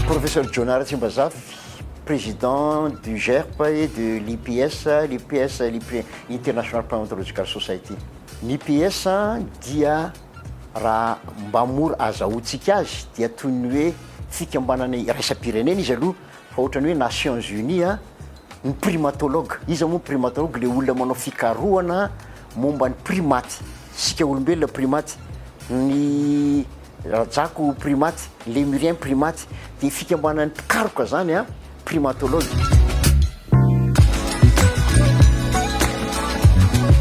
Professeur John Ratsimbazafy, Président du GERP et de l'IPS, l'IPS l'IPS International Primatological Society. Ny IPS dia raha mba mora azahoantsika azy dia toy ny hoe fikambanana iraisam-pirenena izy aloha fa ohatran'ny hoe Nations Unies ny primatologue. Iza moa ny primatologue? Le olona manao fikarohana momba ny primates, isika olombelona primates, ny rajako primates, ny lemuriens primates, dia fikambanan'ny mpikaroka izany an, primatologues.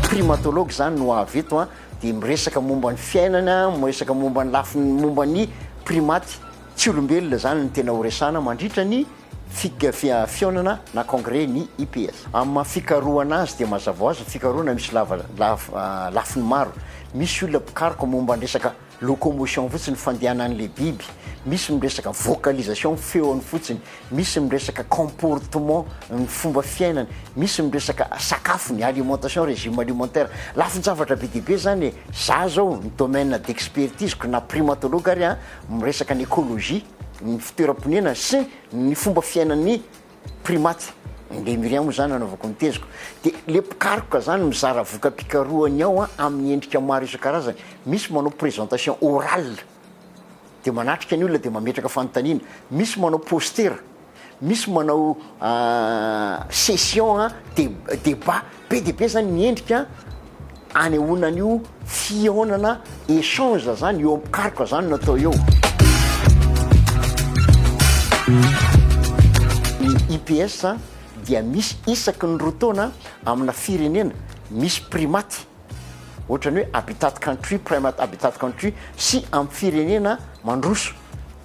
Primatologues izany no avy eto an, dia miresaka momba ny fiainana, miresaka momba ny lafiny momba ny primates tsy olombelona izany no tena horesahana mandritra ny. fihafihaonana na congrès ny IPS. Amin'ny maha fikarohana azy dia mazava ho azy ny fikarohana misy lava lafiny maro. Misy olona mpikaroka momba ny resaka locomotion fotsiny, fandehanan'ilay biby, misy miresaka vocalisation, feony fotsiny, misy miresaka comportement, ny fomba fiainany, misy miresaka sakafony, alimentation, régime alimentaire. Lafin-javatra be dia be izany e! Za izao ny domaine d'expertise-ko na primatologue ary an, miresaka ny écologie. ny fitoeram-ponenana sy ny fomba fiainan'ny primates, ny Lémuriens moa izany anaovako ny teziko, dia ilay mpikaroka izany mizara voka-pikarohany ao amin'ny endrika maro isan-karazany, misy manao présentation orale dia manatrika ny olona dia mametraka fanontaniana, misy manao postera, Misy manao session débat be dia be zany ny endrika anehoana an'io fihaonana échange zany eo am-pikaroka zany no atao eo. Ny IPS dia misy isaky ny roa taona amina firenena misy primates. ohatrany hoe habitat country, prime habitat country sy amin'ny firenena mandroso.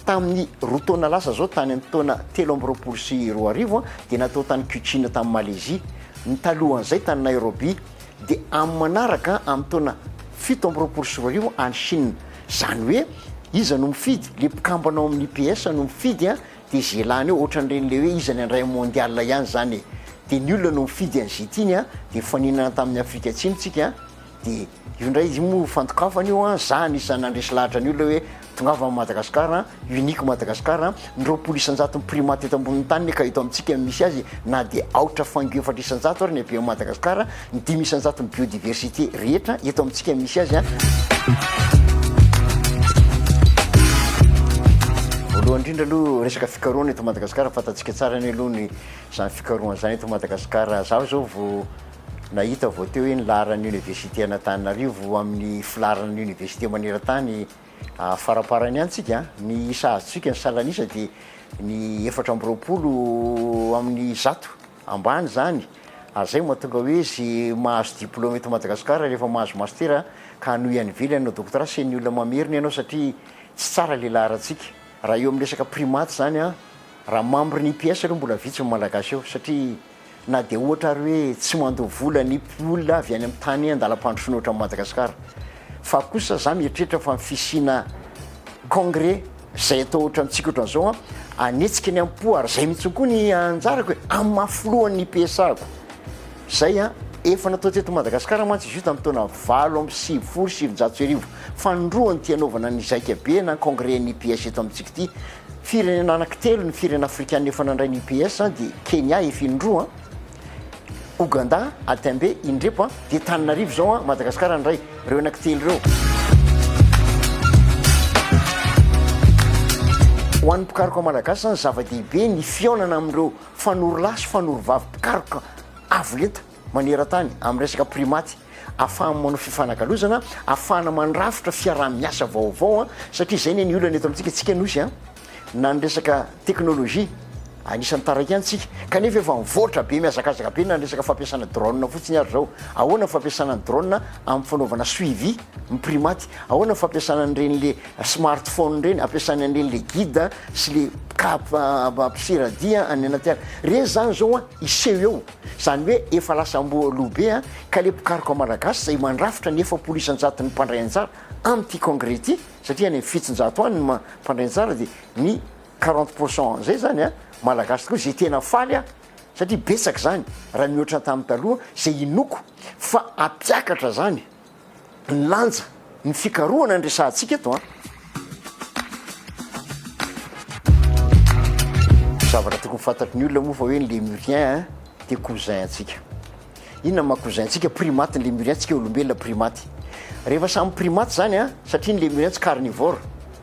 Tamin'ny roa taona lasa izao, tany amin'ny taona telo amby roapolo sy roa arivo, dia natao tany Kuching tany Malaisie, ny talohan'izay tany Nairobi, dia amin'ny manaraka amin'ny taona fito amby roapolo sy roa arivo any Chine. Izany hoe iza no mifidy? Ilay mpikambana ao amin'ny IPS no mifidy Dia ze lany eo otrany reny le hoe iza ny andray am mondial ihany zany e! Dia ny olona no mifidy an ze tiany an! Dia nifaninana tamin'ny Afrika Atsimo tsika an! Dia io ndray io moa fandokafana io an! Za anisan'ny nandresy lahatra ny olona hoe tongava am Madagascar an! Unique Madagascar an! Ny roapolo isanjaton'ny primates eto ambonin'ny tany ne ka eto amintsika no misy azy e! Na dia aotra fango efatra isanjato ary ny abe am Madagascar an! ny dimy isan-jaton'ny biodiversité rehetra eto amintsika misy azy a. Voalohany indrindra aloha resaka fikarohana eto Madagasikara fantatsika tsara ny aloha ny izany fikarohana izany eto Madagasikara. Izaho izao vao nahita vao teo hoe ny laharan'ny Université an'Antananarivo amin'ny filaharan'ny université maneran-tany faramparany any tsika a, ny isa azontsika ny salan'isa dia ny efatra amby roapolo amin'ny zato. ambany zany ary zay mahatonga hoe ze mahazo diploma eto Madagascar rehefa mahazo master ka hanohy any ivelany hanao doctorat sy ny olona mamerina ianao satria tsy tsara le laharantsika raha eo amin'ny resaka primaty zany an raha membre ny IPS aloha mbola vitsy ny malagasy eo satria na dia ohatra ary hoe tsy mandoa vola ny olona avy any amin'ny tany andalam-pandrosoana ohatran'i Madagascar fa kosa za mieritreritra fa ny fisiana congrès Zay atao ohatrantsika ohatran'izao an, hanetsika ny am-po ary zay mihitsy koa ny anjarako e, amin'ny maha filohan'ny PSA-ko. Zay an, efa natao teto Madagasikara mantsy izy io tamin'ny taona valo amby sivifolo sy sivinjato sy arivo, fanondroana ity hanaovana ny zaika be na congrès ny UPS eto amintsika ity. Firenena anankitelo ny firenena afrikana efa nandray ny UPS dia Kenya efa indroa an, Ouganda a Tembe indrepo a dia Tananarivo izao a Madagascar ndray reo anaky telo reo. Ho an'ny mpikaroka malagasy zany zava-dehibe ny fihaonana amin'ireo fanorolahy sy fanorovavy mpikaroka avo lenta maneran-tany amin'ny resaka primaty afahany manao fifanakalozana afahana mandrafitra fiaraha-miasa vaovao a satria izay ny ny olana eto amintsika tsika nosy a na ny resaka teknolojia, anisan'ny taraiky any tsika, kanefa efa mivoatra be, mihazakazaka be na ny resaka fampiasana drone fotsiny ary zao, ahoana ny fampiasana ny drone amin'ny fanaovana suivi miprimate, ahoana ny fampiasana an'ireny le smart phone ireny, ampiasana an'ireny le guide sy le cap mpisera dia any anaty ala, ireny zany zao an hiseho eo, zany hoe efa lasa amboa lo be an, ka le mpikaroka malagasy izay mandrafitra ny efapolo isan-jaton'ny mpandray anjara amin'ity congrès ity, satria any am fitonjato any ny mpandray anjara dia ny quarante pour cent zay zany a malagasy tokoa zay tena faly aho satria betsaka zany raha mihoatra tamin'ny taloha zay inoako fa ampiakatra zany ny lanja ny fikarohana ny resahantsika eto a zavatra tokony fantatry ny olona moa fa hoe ny lemurien dia cousin antsika Inona ma cousin antsika primates ny lemurien antsika olombelona primates. Rehefa samy primates zany a, satria ny lemurien tsy carnivore,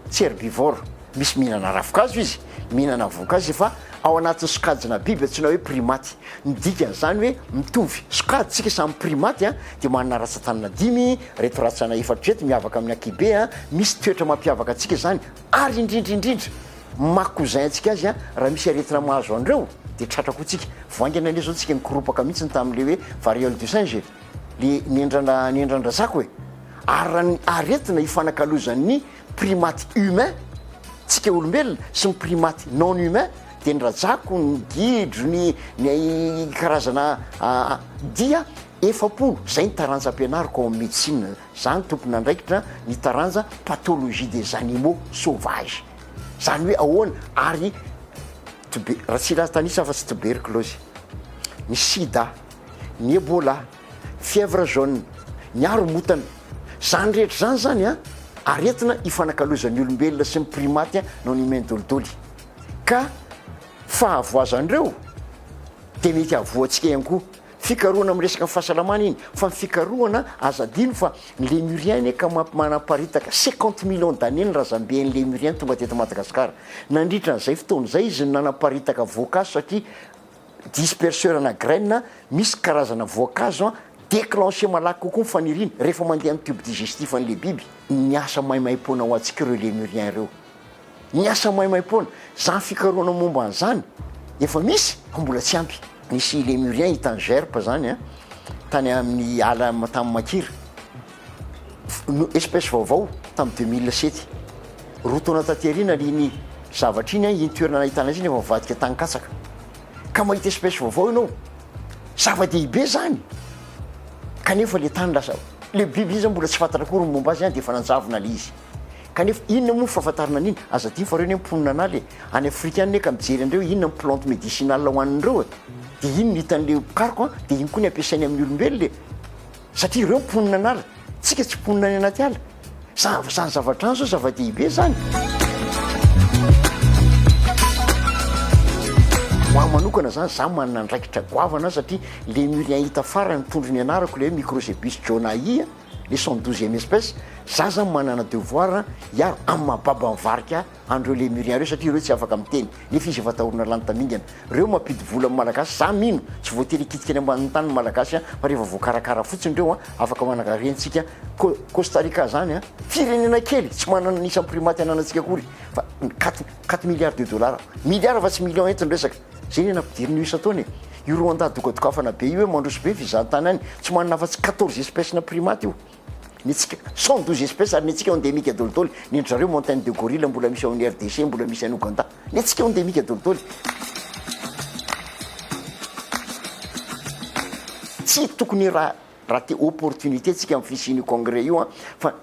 tsy herbivore, misy mihinana ravinkazo izy, mihinana voankazo izy fa ao anatin'ny sokajina biby antsoina hoe primates. Ny dikan'izany hoe mitovy sokajy tsika samy primates a, dia manana ratsan-tanana dimy, reto ratsana efatra reto miavaka amin'ny ankihibe a, misy toetra mampiavaka antsika izany ary indrindra indrindra Maka ho zay antsika azy raha misy aretina mahazo anreo de tratra koa tsika. Vao haingana anie zao tsika nikoropaka mihitsy ny tamin'le hoe variole du singe e! le nendrana nendran-drazako e! ary raha ny aretina hifanakalozan'ny primates humains, tsika olombelona, sy ny primates non humains de ny rajako, ny gidro, ny ny karazana dia efa-po, zay ny taranja ampianariko ao amin'ny médecine, za no tompon'andraikitra ny taranja pathologie des animaux sauvages. Zany hoe ahoana ary tube- Ratsilaza tanisa afa-tsy tuberculose, ny sida, ny ebola, fièvre jaune, ny haromotana, zany rehetra zany zany an, aretina ifanakalozan'ny olombelona sy ny primaty an noho ny humain dolidoly ka fahavoazan'ireo dia mety hahavoa antsika ihany koa Fikarohana amin'ny resaka ny fahasalamana iny fa ny fikarohana aza adino fa ny Lémurien anie ka manaparitaka cinquante millions d'années ny razambe an'ny Lémurien tonga teto Madagascar nandritra an'izay fotoana izay izy no nanaparitaka voankazo satria disperseur ana graines misy karazana voankazo an déclencher malaky kokoa ny faniriany rehefa mandeha amin'ny tube digestif an'ilay biby. Niasa maimaimpoana ho antsika ireo Lémurien ireo. Ny asa maimaim-poana, izany fikarohana momba an'izany efa misy fa mbola tsy ampy. Nisy Lémurien i Tangerp izany an, tany amin'ny ala tany Makira, no espèce vaovao tamin'ny deux mille sept. Roa taona taty aoriana iny zavatra iny an, iny toerana nahitana azy iny efa mivadika tany katsaka. Ka mahita espèce vaovao ianao, zava-dehibe izany, kanefa ilay tany lasa, ilay biby izany mbola tsy fantatra akory ny momba azy an, dia efa nanjavona ilay izy. Kanefa inona moa ny fahafantarana an'iny? Aza adino fa reo anie mponina an'ala e! Any Afrika any ne ka mijery an'ireo inona ny plante medicinale hohanin'ireo e! Dia iny no hitan'ilay mpikaroka an! Dia iny koa ny ampiasainy amin'ny olombelona e! Satria ireo mponina an'ala, tsika tsy mponina any anaty ala. Zany fa zany zavatra any zao zava-dehibe zany. Ho ahy manokana zany, za manana andraikitra goavana satria le murien hita farany mitondra ny anarako le hoe microcebus johnai a, le cent douzième espèce za zany manana devoir hiaro amin'ny maha baba ny varika an'ireo lemurien ireo satria ireo tsy afaka miteny nefa izy efa atahorana lany tamingana ireo mampidi vola amin'ny malagasy za mino tsy voatery hikitika any ambanin'ny tany ny malagasy an fa rehefa voakarakara fotsiny ireo an afaka manankarentsika ko costa rica zany an firenena kely tsy manana ny isan'ny primaty ananantsika akory fa quatre quatre milliards de dollars milliards fa tsy millions eto ny resaka Zay ny nampidirin'io isan-taona e! Io Rwanda dogadogafana be io hoe mandroso be fizahan-tany any, tsy manana afa-tsy quatorze espèces-na primates io. Ny antsika cent douze espèces ary ny antsika endemique dolidoly, ny an-dry zareo montagne de gorille mbola misy ao amin'ny RDC, mbola misy any Ouganda. Ny antsika endemique dolidoly. Tsy tokony raha raha te opportunité tsika amin'ny fisian'io congrès io an, fa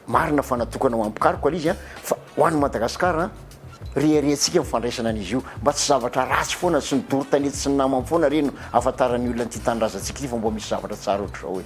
Marina fa natokana ho an'ny mpikaroka ilay izy an, fa ho an'ny Madagascar an, reharehantsika ny fandraisana an'izy io, mba tsy zavatra ratsy foana sy ny doro tanety sy ny namany foana re no ahafantaran'ny olona an'ity tanindrazantsika ity fa mba misy zavatra tsara ohatr'izao e.